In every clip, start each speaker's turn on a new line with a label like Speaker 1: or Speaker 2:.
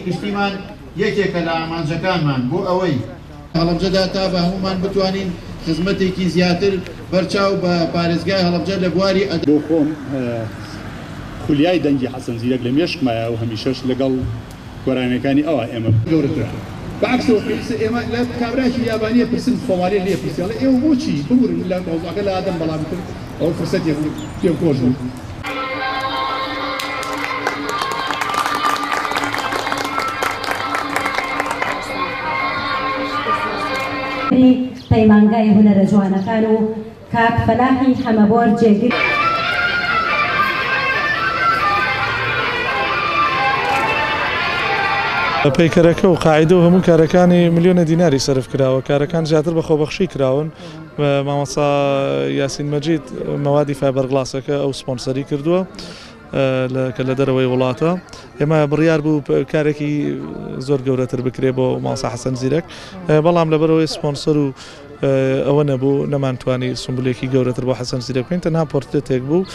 Speaker 1: گشتیمان یەکێکە لە ئامانجەکانمان بۆ ئەوەی. هەڵەبجەدا تا بە هەموومان بتوانین خزمەتێکی زیاتر بەرچاو بە پارێزگای هەڵەبجە لە بواری. بۆ خۆم
Speaker 2: خولیای دەنگی حەسەن زیرەک لە مێشکمایە و هەمیشەش لەگەڵ گۆرانیەکانی ئەوا ئێمە. گەورەترە بە عەکسەوە پێویستە ئێمە لە کابرایەکی یابانیە پرسن خۆمالیە لێ پرسیاڵێ ئێوە بۆچی ببورن لە مەوزوعەکە لادەم بەڵام. ئەوە
Speaker 3: فرسەتێ بوو پێم خۆش بوو. پەیمانگای هونەرە
Speaker 4: جوانەکان و کاک فەلاحی حەمەبۆر جێگر پەیکەرەکە و قاعدە و هەموو کارەکانی ملیۆنە دیناری سرف کراوە کارەکان زیاتر بە خۆبەخشی کراون مامۆستا یاسین مەجید مەوادی فایبەرگڵاسەکە ئەو سپۆنسەری کردووە کە لە دەرەوەی وڵاتە ئێمە بڕیار بوو کارێکی زۆر گەورەتر بکرێ بۆ ماوسا حەسەن زیرەک بەڵام لەبەرەوەی سپۆنسەر و ئەوە نەبوو نەمانتوانی سمبولێکی گەورەتر بۆ حەسەن زیرە بکەین تەنها پۆرتێتێک بوو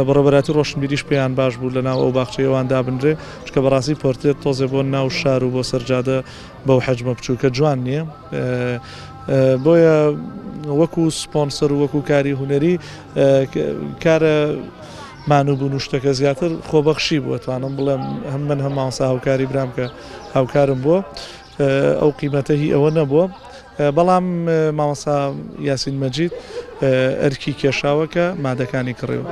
Speaker 4: بەڕێبەراتی ڕۆشنبیریش پێیان باش بوو لە ناو ئەو باخچەیەوان دابنرێ چکە بەڕاستی پۆرتێت تۆزێ بۆ ناو شار و بۆ سەرجادە بەو حەجمە بچووکە جوان نییە بۆیە وەکو سپۆنسەر و وەکو کاری هونەری کارە مانوبوون و شتەکە زیاتر خۆبەخشی بووە توانم بڵێم هەم من هەم ماوەسا هاوکاری برام کە هاوکارم بووە ئەو قیمەتە هی ئەوە نەبووە بەڵام ماوەسا یاسین مەجید ئەرکی کێشاوە کە مادەکانی کڕیوە.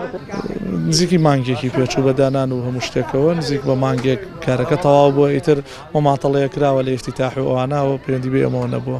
Speaker 4: نزیکی مانگێکی پێچوو بە دانان و هەموو شتێکەوە نزیک بە مانگێک کارەکە تەواو بووە ئیتر مەماتەڵەیە کراوە لە ئیفتیتاح و ئەوانە ئەوە پەیوەندی بە ئێمەوە نەبووە.